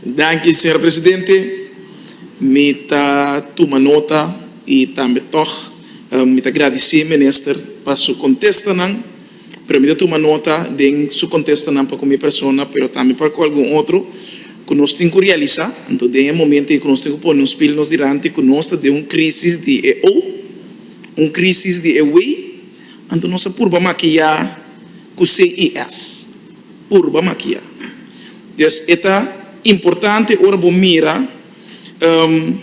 Danki, señor presidente. Mi ta tuma nota i tambe tòg mi ta gradisé minister pa su kontestanan, pero mi ta tuma nota den su kontestanan pa ku mi persona, pero tambe pa ku algun otro, ku nos tin ku realisá anto den e momento ei ku nos tin ku pone nos pil nos dilanti ku nos ta den un krísis di e ou, un krísis di e wei Anto nos a purba makiá ku CIS. Purba makiá. Des e ta importante ora bo mira um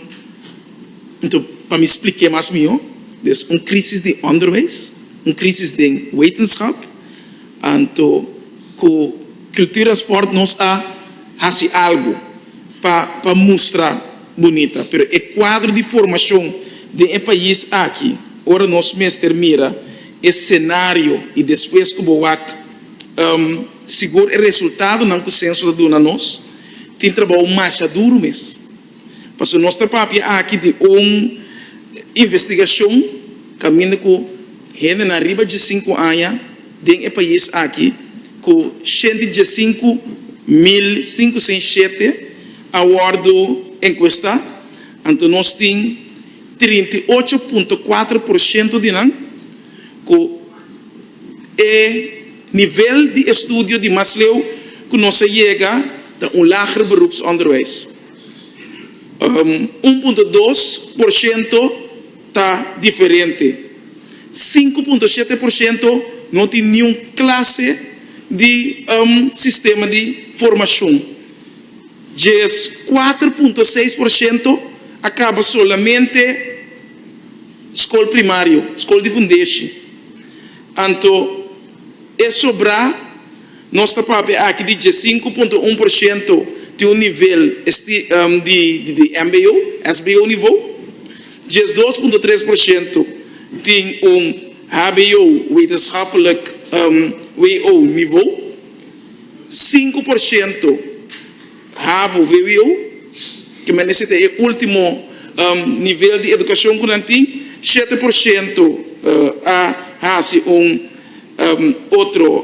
anto pa mi splik'é mas mihó. Des un krisis di onderwijs, un krisis den wetenschap, anto ku Cultura en Sport nos a hasi algu pa pa mustra. Bunita, pero e kuadro di formashon den e pais aki, ora nos mester mira e senario i despues ku bo wak sigur e resultadonan ku senso ta duna nos, tin trabou masha duru mes. Pasobra nos ta papia aki di un investigashon kaminda ku hendenan riba dje sinku aña den e pais aki ku shent'i dje sinku mil sinku sèn shete, a wòrdu enkuestá, anto nos tin trinta i ocho punto kuater por shento di nan ku e nivel di estudio di mas leu ku nos a yega ta un lager beroepsonderwijs, un punto dos por shento ta diferente, sinku punto shete por shento no tin niun klase di sistema di formashon. Djes kuater punto seis por shento a kaba solamente skol primario, skol di fundeshi. Anto e sobrá nos ta papia aki di dje sinku punto un por shento tin un nivel esti di di mbo, sbo nivou, djes dos punto tres por shento tin un hbo, wetenschapelijk, who, nivou. Sinku por shento havu VWO, ke menester ta e ultimo nivel di edukashon ku nan tin, shete por shento a hasi un otro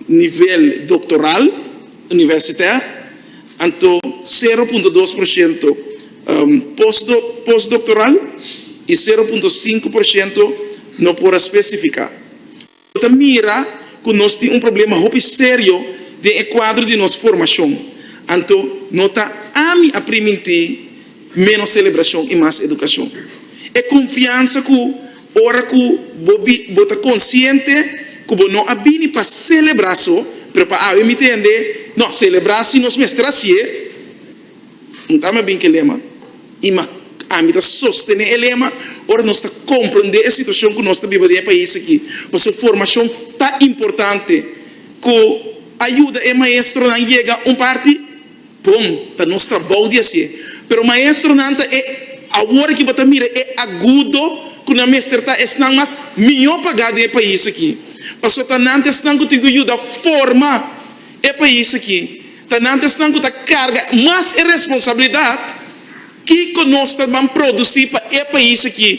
nivel doktoral, universitè, anto sero punto dos por shento postdoktoral i sero punto sinku por shento no por a spesifiká. Bo ta mira ku nos tin un problema hopi serio den e kuadro di nos formashon. Anto no ta ami a primintí ménos selebrashon i mas edukashon. E konfiansa ku ora ku bo bo ta konsiente ku bo no a bini pa selebrá so, pero pa habi mi tende, no, selebrá si nos mester hasié. Un ta mi a bin ke lema, i ma ami ta sostené e lema ora nos ta komprendé e situashon ku nos ta biba den e pais aki. Pasobra formashon ta importante ku a yuda e maestronan yega un parti bon, ta nos trabou di hasié. Pero maestronan ta e awor aki bo ta mira e agudo ku nan mester ta esnan mas mihó pagá den e pais aki. Pasobra ta nan ta esnan ku tin ku yuda forma e pais aki. Tenantesnan ku ta karga mas e responsabilidat, Kiko nos ta ban produsí pa e pais aki?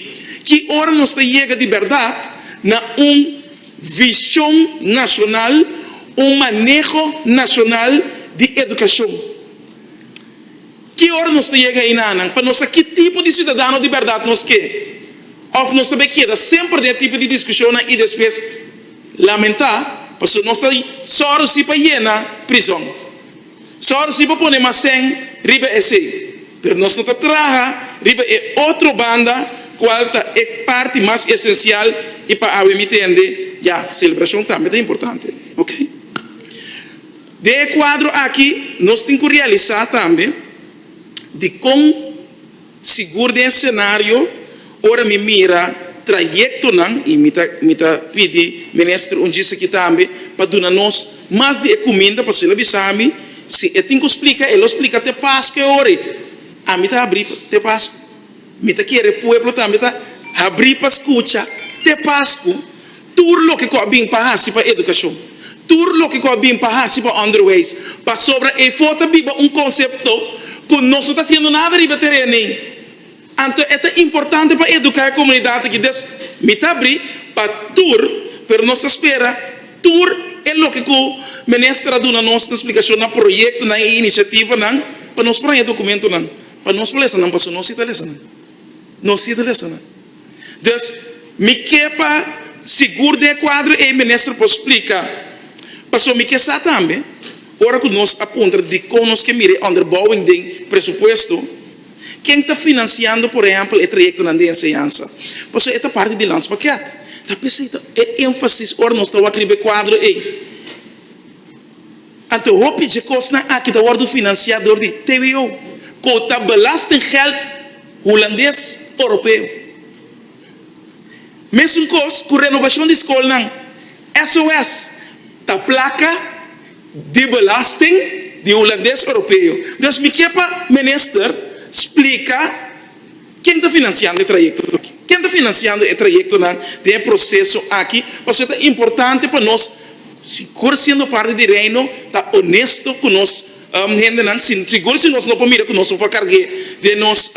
Ki ora nos ta yega di bèrdat na un vishon nashonal, un maneho nashonal di edukashon? Ki ora nos ta yega einanan pa nos sa ki tipo di siudadano di bèrdat nos ke òf nos ta bay keda semper den e tipo di diskushonnan i despues Lamentá, pasobra nos ta sòrsi pa yena prizòn, sòrsi pa pone mas sèn riba esei, pero nos no ta traha riba e otro banda kual ta e parti mas esensial i pa awe mi tende ya selebrashon tambe ta importante. Ok. Den e kuadro aki nos tin ku realisá tambe dikon. Sigur den e senario, ora mi mira trayectonan, y mi ta mi ta pidi Minister un djis aki tambe pa duna nos mas di e cuminda, pasobra el a bisa mi, si e tin cu splica, e lo splica te Pascu e ora y ami ta habri te Pascu. Mi ta kere pueblo tambe ta habri pa scucha te Pascu. Tur loke ku a bin pa hasi pa edukashon, tur loke ku a bin pa hasi pa onderwijs, pasobra efo ta biba un konsepto ku nos no ta hasiendo nada riba e teren ei. Anto e ta importante pa eduká e komunidat aki. Des mi ta abrí pa tur, pero nos ta spera tur e loke ku Minister a duna nos na splikashon na proyektonan i inisiativanan pa nos por haña dokumentonan, pa nos por lesa nan, pasobra nos sí ta lesa nan, nos sí ta lesa nan. Dus, mi ke pa sigur den e kuadro ei Minister por splika, paso mi ke sa tambe, ora ku nos a puntra dikon nos ke mira e onderbouwing den presupuesto, ken ta finansiando por ehèmpel e trayektonan di enseñansa? Paso e ta parti di landspakket. Ta p'esei ta e énfasis ora nos ta wak riba e kuadro ei. Anto hopi dje kosnan aki ta wòrdu finansiá dor di tbo, ku ta belastinggèld. Hulandes Oropeo. Mesun kos ku renobashon di skolnan, SOS ta plaka di belasting di Hulandes Oropeo. Dus mi ke pa minister splika ken ta finansiando e trayekto aki. Ken ta finansiando e trayektonan den e proseso aki pasobra ta importante pa nos. Sigur si nos parti di Reino ta onesto ku nos hendenan, sigur si nos no por mira ku nos por karg'é den nos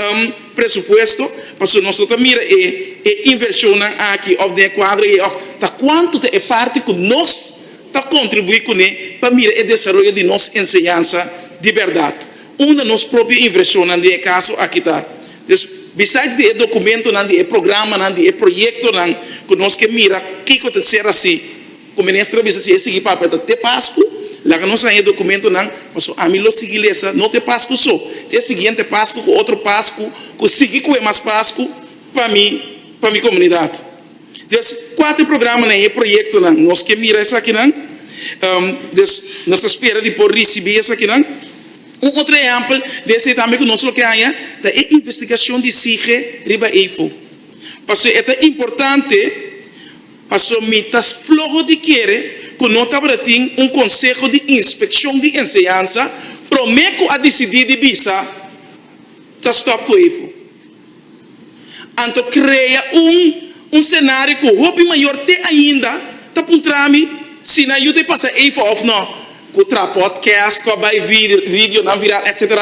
presupuesto, pasobra nos lo ta mira e invershonnan aki òf den e kuadro ei òf ta kuantu ta e parti ku nos ta kontribuí kuné pa mira e desaroyo di nos enseñansa di bèrdat. Unda nos propio invershonnan den e kaso aki ta? Des, besides di e dokumentonan, di e programanan, di e proyektonan ku nos ke mira kiko ta ser hasi, Ku minister a bisa si e sigui papia ta te pasku laga nos haña e dokumentunan paso ami lo sigui lesa no te pasku so te e siguiente pasku ku otro pasku ku sigui ku e mas pasku pa mi pa mi komunidat des kua ta e programanan i e proyektonan nos ke mira esakinan des nos ta spera di por risibi esakinan un otro ehèmpel di esei tambe ku nos lo ke haña ta e investigashon di sige riba Eifo paso e ta importante. Pasobra mi ta floho di kere ku no tabata tin un Konseho di Inspekshon di Enseñansa promé ku a disidí di bisa ta stòp ku Evo. Anto krea un un senario ku hopi mayor te ainda ta puntra mi si nan yu ta e pasa Evo òf nò. Ku traha pòdkèst, ku a bai video videonan viral etc.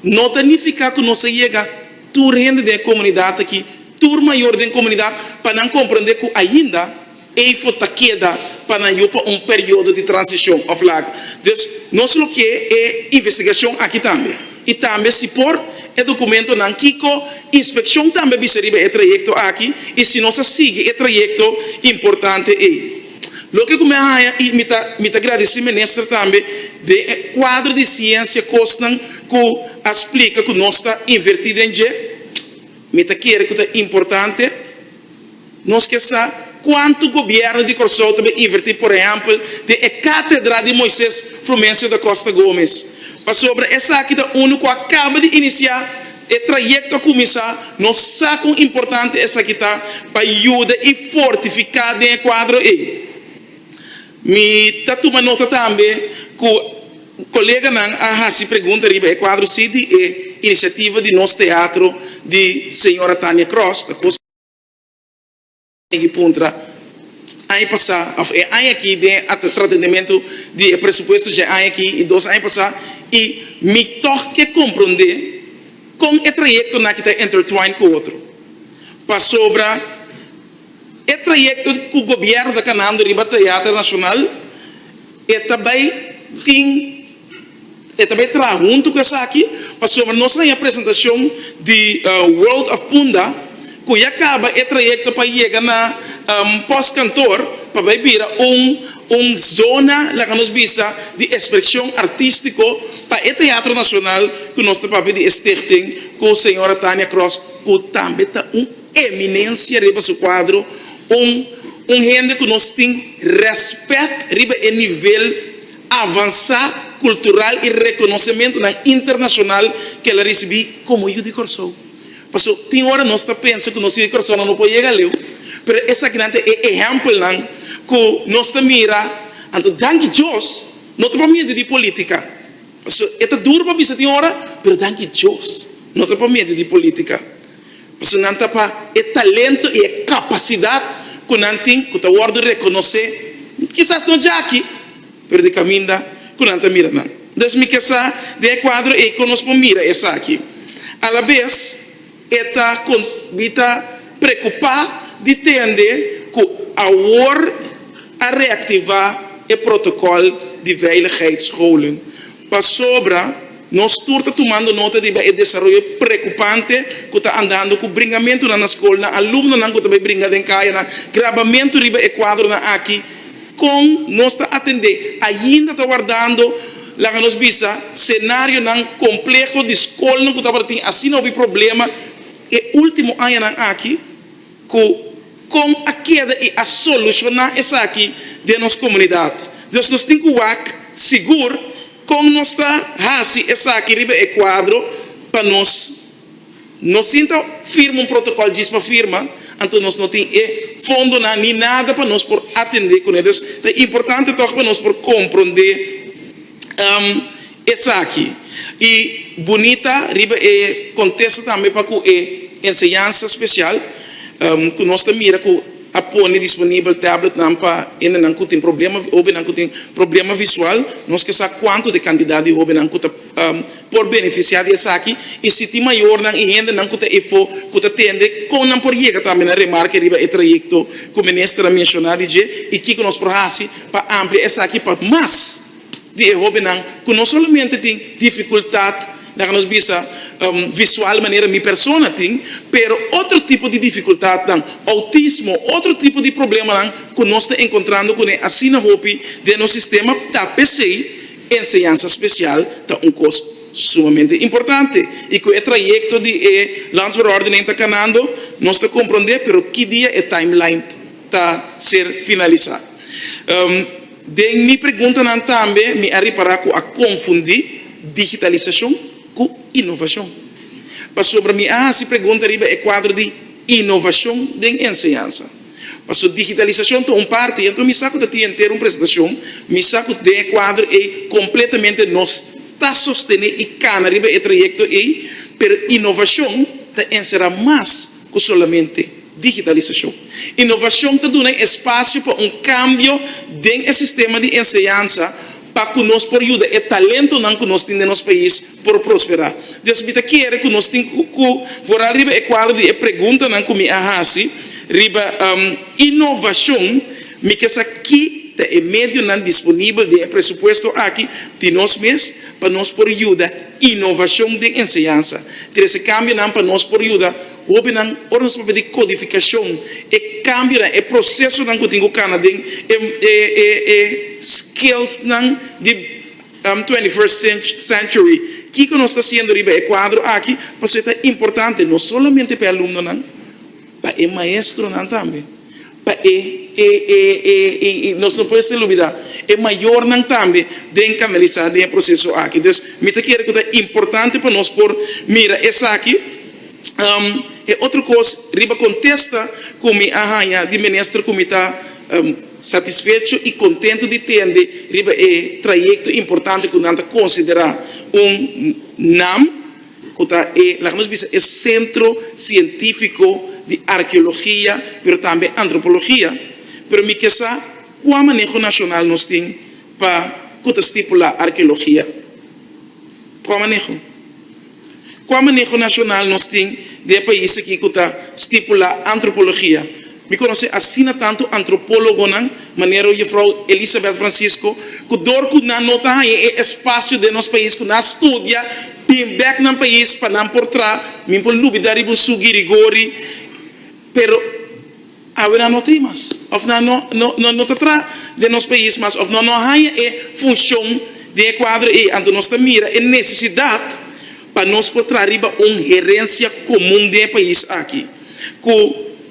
No ta nifiká ku nos a yega. Tur hende den e komunidat aki, tur mayor den komunidat, pa nan komprende ku ainda ei for ta keda pa nan yu pa un periodo di transishon òf laga. Dus nos lo ke e investigashon aki tambe, i tambe si por e dokumentonan kiko inspekshon tambe bisa riba e trayekto aki i si nos a sigui e trayekto importante ei. Loke ku mi a haña i mi ta gradisí minister tambe den e kuadro di siensia kosnan ku a splika ku nos ta invertí den dje, mi ta kere ku ta importante nos ke sa kuantu gobièrnu di Kòrsou ta bin invertí por ehèmpel den e Katedra di Moises Frumencio da Costa Gomez pasobra esaki ta unu ku a kaba di inisiá. E trayekto a kuminsá. Nos sa kon importante esaki ta pa yuda i fortifiká den e kuadro ei. Mi ta tuma nota tambe ku koleganan a hasi pregunta riba e kuadro si di e inisiativa di nos teatro di señora Tania Cross ta. Di puntra aña pasá òf e aña aki den atratendementu di e presupuesto dje aña aki i dos aña pasá i mi tòg ke komprondé kon e trayektonan aki ta intertwine ku otro. Pasobra e trayekto ku gobièrnu ta kanando riba Teater Nashonal e ta bai tin. E ta bay traha hunto cu esaki pasobra nos a haña presentacion di World of Punda cu ya caba e trayecto pa yega na Post Kantoor pa bay bira un zona laga nos bisa di exprecion artistico pa e Teatro Nacional cu nos ta papia di e Stichting cu Sra. Tania Cross cu tambe ta un eminencia riba su cuadro, un hende cu nos tin respet riba e nivel. Avansá kultural i rekonosementunan internashonal ke el a risibí komo yu di Kòrsou. Paso tin ora nos ta pensa ku nos yu di Kòrsou no por yega aleu, pero esakinan ta e ehèmpelnan ku nos ta mira. Anto danki Dios, no ta pa medio di polítika, paso e ta duru pa bisa tin ora, pero danki Dios no ta pa medio di polítika. Pasobra nan ta pa e talento i e kapasidat ku nan tin ku ta wòrdu rekonosé, kisas no dja aki, pero di kaminda ku nan ta mira nan. Dus mi ke sa den e kuadro ei kon nos por mira esaki. Alabes e ta kon bi ta preokupá di tende ku awor a reaktivá e protokòl di veiligheidscholen. Pasobra, nos tur ta tumando nota riba e desaroyo preokupante ku ta andando ku bringamentunan na skolnan, alumnonan ku ta bai bringa den kayanan, grabamentu riba e kuadronan aki. Kon nos ta atendé? Ainda ta wardando, laga nos bisa, senarionan kompleho di skolnan ku tabata tin asina hopi problema e último añanan aki. Cu con a keda y a soluciona esaki den nos comunidad? Dus nos tin cu wak sigur con nos ta haci esaki riba e cuadro pa nos no sinta firma un protocol djis pa firma, anto nos no tin e fondonan ni nada pa nos por atende cune. Dus ta importante toch pa nos por comprende. Esaki i bunita riba e kontesto tambe pa ku e enseñansa spesial ku nos ta mira ku a pone disponibel tabletnan pa hendenan ku tin problema, hobennan ku tin problema visual. Nos ke sa kuantu di e kantidat di hobennan ku ta por benefisiá di esaki i si tin mayornan i hendenan ku ta efo ku ta tende kon nan por yega tambe na remarke riba e trayekto ku Minister a menshoná di dje i kiko nos por hasi pa amplia esaki pa mas. di e hóbennan ku no solamente tin difikultat, laga nos bisa, visual manera mi persona tin, pero otro tipo di difikultatnan, outismo, otro tipo di problemanan ku nos ta enkontrando kuné asina hopi den nos sistema, ta p'esei enseñansa spesial ta un kos sumamente importante. I ku e trayekto di e Landsverordening ta kanando, nos ta komprondé pero ki dia e timeline ta ser finalisá. Den mi preguntanan tambe mi a repará ku a konfundí digitalisashon ku inovashon. Pasobra mi a hasi pregunta riba e kuadro di inovashon den enseñansa. Paso digitalisashon ta un parti, enton mi sa ku ta tin henter un presentashon, mi sa ku den e kuadro ei kompletamente nos ta sostené i kana riba e trayekto ei, pero inovashon ta enserá mas ku solamente. Digitalisashon. Inovashon ta duna espasio pa un kambio den e sistema di enseñansa pa ku nos por yuda e talentonan ku nos tin den nos pais por prosperá. Dios mi ta kere ku nos tin ku wora riba e kuadro di e preguntanan ku mi a hasi riba inovashon, mi ke sa ki ta e medionan disponibel den e presupuesto aki di nos mes pa nos por yuda inovashon den enseñansa. Trese kambionan pa nos por yuda. Hobennan, ora nos papia di kodifikashon, e kambionan, e prosesonan ku tin ku kana den e skillsnan di Twenty First Century, kiko nos ta hasiendo riba e kuadro aki? Pasobra ta importante no solamente pa e alumnonan, pa e maestronan tambe. Pa e e e e i i nos no por hester lubida e mayornan tambe den kanalisá den e proseso aki. Dus mi ta kere ku ta importante pa nos por mira esaki. E otro kos riba kontesta ku mi a haña di minister ku mi ta satisfecho i kontentu di tende riba e trayekto importante ku nan ta konsiderá un nam, ku ta e, laga nos bisa e sentro sientífiko di arkeologia pero tambe antropologia, pero mi ke sa kua maneho nashonal nos tin pa ku ta stipulá arkeologia? Kua maneho? Kua maneho nashonal nos tin den e pais aki ku ta stipulá antropologia? Mi conoce asina tanto antropologonan manera Juffrouw Elisabeth Francisco, cu door cu nan no ta haya e espacio den nos pais cu nan a studia, bin bek nan pais pa nan por tra, mi por lubida riba un su guirigori, pero awe nan no tin mas, of nan no no no ta tra den nos pais mas, of nan no a haya e funcion den e cuadro ey, anto nos ta mira e necesidad. pa nos por traha riba un herensia komun den e pais aki, ku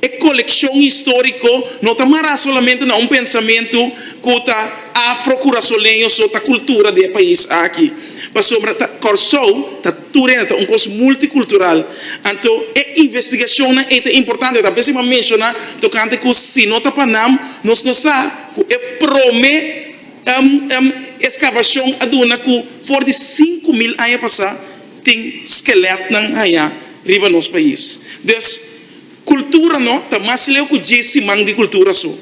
e kolekshon históriko no ta mará solamente na un pensamentu ku ta afro-kurasoleño so ta kultura den e pais aki, pasobra ta Kòrsou ta tur hende ta un kos multikultural. Anto e investigashonnan ei ta importante, ta p'esei m'a menshoná tokante ku si no ta pa nam nos no sa ku e promé. Eskavashon a duna ku for di sinku mil aña pasá tin skelètnan hañá riba nos pais. Dus, kultura no ta mas leu ku djis siman di kultura so.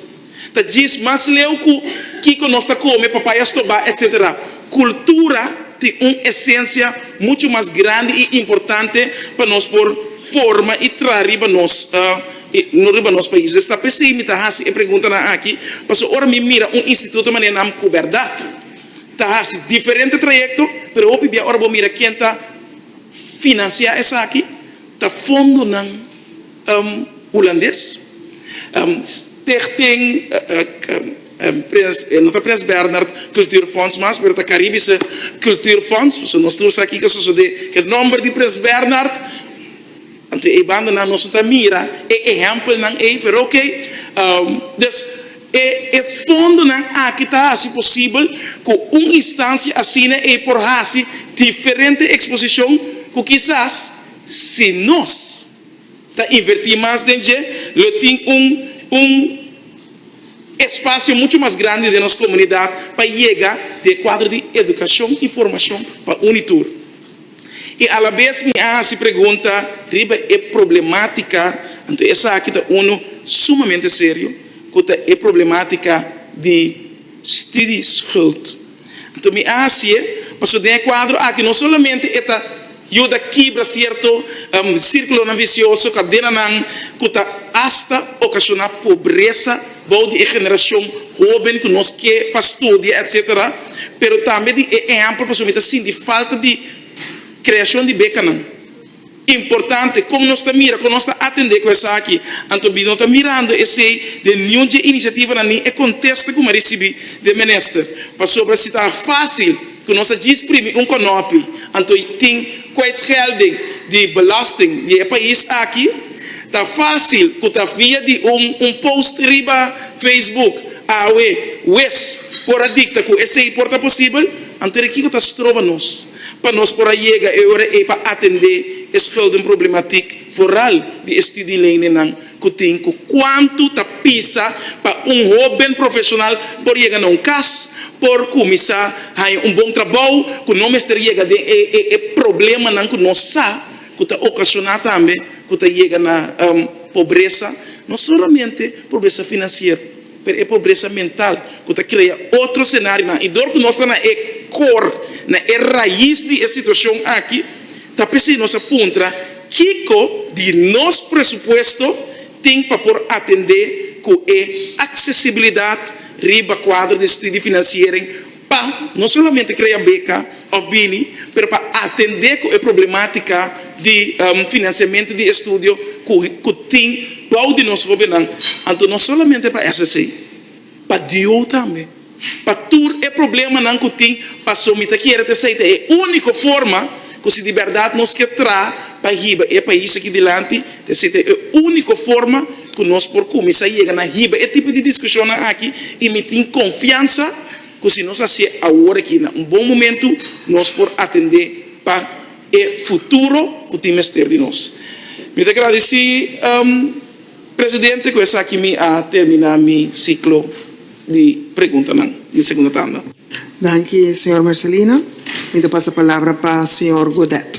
Ta djis mas leu ku kiko nos ta kome, papaya stobá, etc. Kultura tin un esensia muchu mas grandi i importante pa nos por forma i traha riba nos. E no riba nos pais esta pesey mi ta hasi e preguntanan aki, pasobra ora mi mira un instituto manera nan ku berdad ta hasi diferente trayekto, pero hopi bia ora bo mira ken ta finansiá esaki ta fondonan hulandes, Stichting no ta Prins Bernhard Kultuurfonds mas, pero ta Karibische Kultuurfonds, pasobra nos ta wak sa kiko sosodé ku e nòmber di Prins Bernhard. Anto e banda nan nos a ta mira e ehèmpelnan ei, pero oke. Des, e e fondonan aki ta hasi posibel ku un instansia asina ei por hasi diferente eksposishon ku kisas si nos ta invertí mas den dje lo tin un un espasio muchu mas grandi den nos komunidat pa yega di e kuadro di edukashon i formashon pa uni tur. I alabes mi a hasi pregunta riba e problematika, anto esaki ta unu sumamente serio, ku ta e problematika di studieschuld. Anto mi a hasi'e, pasobra den e kuadro aki no solamente e ta yuda kibra sierto sirkulonan visioso, kadenanan ku ta asta okashona pobresa, Bou di e generacion hoben cu nos ke pa studia etc. Pero tambe di e ehempel pasobra mi ta sinti falta di creacion di becanan importante. Con nos ta mira? Con nos ta atende cu esaki? Anto mi no ta mirando esey den niun dje iniciativanan ni e contesta cu mi a ricibi den minister. Pasobra si ta facil cu nos a djisprimi un conopi anto tin Kwijtschelding di belasting di e pais aki ta fásil ku ta via di un un post riba Facebook. Awe wes por a dikta ku esei por ta posibel, anto di kiko ta stroba nos pa nos por a yega e ora ei pa atendé e scheldingproblematik foral di e studieleeninnan? Ku tin ku kuantu ta pisa pa un hóben profeshonal por yega na un kas, por kuminsá haña un bon trabou ku no mester yega den e problemanan ku nos sa ku ta okashoná tambe ku ta yega na pobresa, no solamente pobresa finansiero. Pero e pobresa mental ku ta krea otro senarionan i dor ku nos ta na e kor, na e rais di e situashon aki, ta p'esei nos a puntra kiko di nos presupuesto tin pa por atendé ku e aksesibilidat riba kuadro di subsidio di finansiering, pa no solamente krea beka òf bini, pero pa atendé ku e problemátika di finansiamentu di estudio ku tin bou di nos hóbennan. Anto no solamente pa esei sí, pa DO tambe, pa tur e problemanan ku tin, pasobra mi ta kere ta esei ta e úniko forma ku si di bèrdat nos ke traha pa hiba e pais akí dilanti, Esei ta e úniko forma ku nos por kuminsá yega na hiba e tipo di diskushonnan aki, i mi tin konfiansa ku si nos hasié awor aki na un bon momentu, nos por atendé pa e futuro ku tin mester di nos. Mi ta gradisí presidente, ku esaki mi a terminá mi siklo di preguntanan di e segunda tanda. Danki, señor Marcelino. Mi ta pasa palabra pa señor Godet.